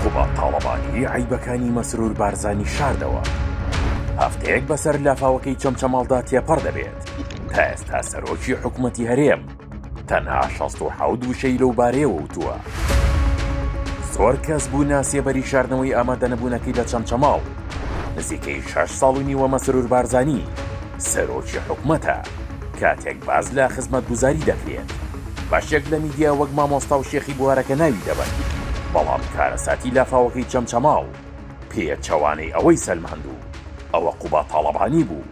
قوباد تاڵەبانی عەیبەکانی مەسرور بارزانی شاردەوە، هەفتەیەک بەسەر لافاوەکەی چەمچەماڵدا تێپەڕ دەبێت، تا ئێستا سەرۆکی حکومەتی هەرێم تەنها شەست و حەوت وشەی لەو بارەیەوە وتووە. زۆر کەس بوو ناسێبەری شاردنەوەی ئامادەنەبوونەکەی لە چەمچەماڵ، نزیکەی شەش ساڵ و نیوە مەسرور بارزانی، سەرۆکی حکومەتە کاتێک باس لە خزمەتگوزاری دەکرێت بەشێک لە میدیا وەک مامۆستا و شێخی بوارەکە ناوی دەبەن بەڵام کارەساتی لافاوەکەی چەمچەماڵ پێچەوانەی ئەوەی سەلماند و ئەوە قوباد تاڵەبانی بوو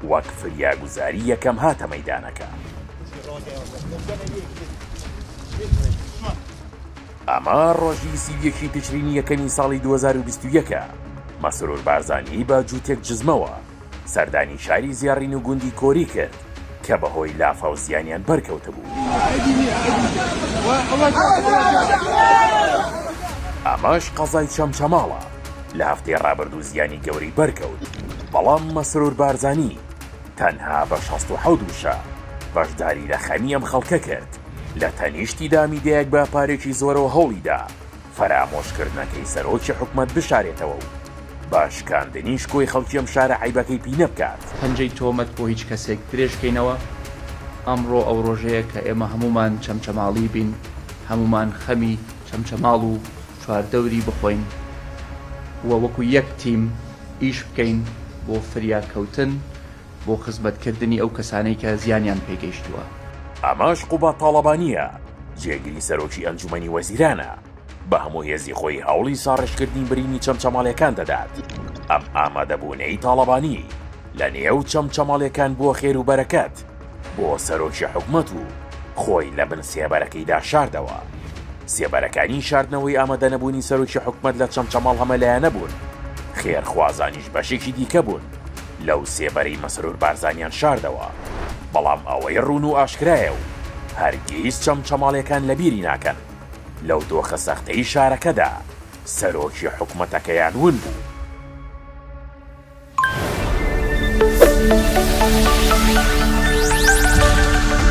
وەک فریاگوزاری یەکەم هاتە مەیدانەکە. ئەمە ڕۆژی سی و یەکی تشرینی یەکەمی ساڵی دوو هەزار و بیست و یەک ە مەسرور بارزانی بە جووتێک جزمەوە سەردانی شاری زێڕین و گوندی کۆری کرد کە بەهۆی لافاو زیانیان بەرکەوتبوو. ئەمەش قەزای چەمچەماڵە لە هەفتەی ڕابردوو زیانی گەورەی بەرکەوت، بەڵام مەسرور بارزانی تەنها بە شەست و حەوت وشە بەشداری لە خەمی ئەم خەڵکە کرد، لە تەنیشتیدا میدیایەک بە پارێکی زۆرەوە هەوڵیدا، فەرامۆشکردنەکەی سەرۆکی حکومەت بشارێتەوە و بە شکاندنی شکۆی خەڵکی ئەم شارە عەیبەکەی پینە بکات. پەنجەی تۆمەت بۆ هیچ کەسێک درێژ بکەینەوە، ئەمڕۆ ئەو ڕۆژەیە کە ئێمە هەموومان چەمچەماڵی بین، هەموومان خەمی چەمچەماڵ و چواردەوری بخۆین و وەکو یەک تیم ئیش بکەین بۆ فریاکەوتن، بۆ خزمەتکردنی ئەو کەسانەی کە زیانیان پێگەیشتووە. ئەمەش قوباد تاڵەبانییە، جێگری سەرۆکی ئەنجوومەنی وەزیرانە، بە هەموو هێزی خۆی هەوڵی ساڕێژکردنی برینی چەمچەماڵییەکان دەدات. ئەم ئامادەبوونەی تاڵەبانی لە نێو چەمچەماڵییەکان بووە خێر و بەرەکەت بۆ سەرۆکی حکومەت و خۆی لە بن سێبەرەکەیدا شاردەوە. سێبەرەکانی شاردنەوەی ئامادەنەبوونی سەرۆکی حکومەت لە چەمچەماڵ هەمەلایەنە بوون، خێرخوازانیش بەشێکی دیکە بوون. لەو سێبەرەی مەسرور بارزانیان شاردەوە، بەڵام ئەوەی ڕوون و ئاشکرایە و هەرگیز چەمچەماڵیەکان لەبیری ناکەن، لەو دۆخە سەختەی شارەکەدا سەرۆکی حکومەتەکەیان ون بوو.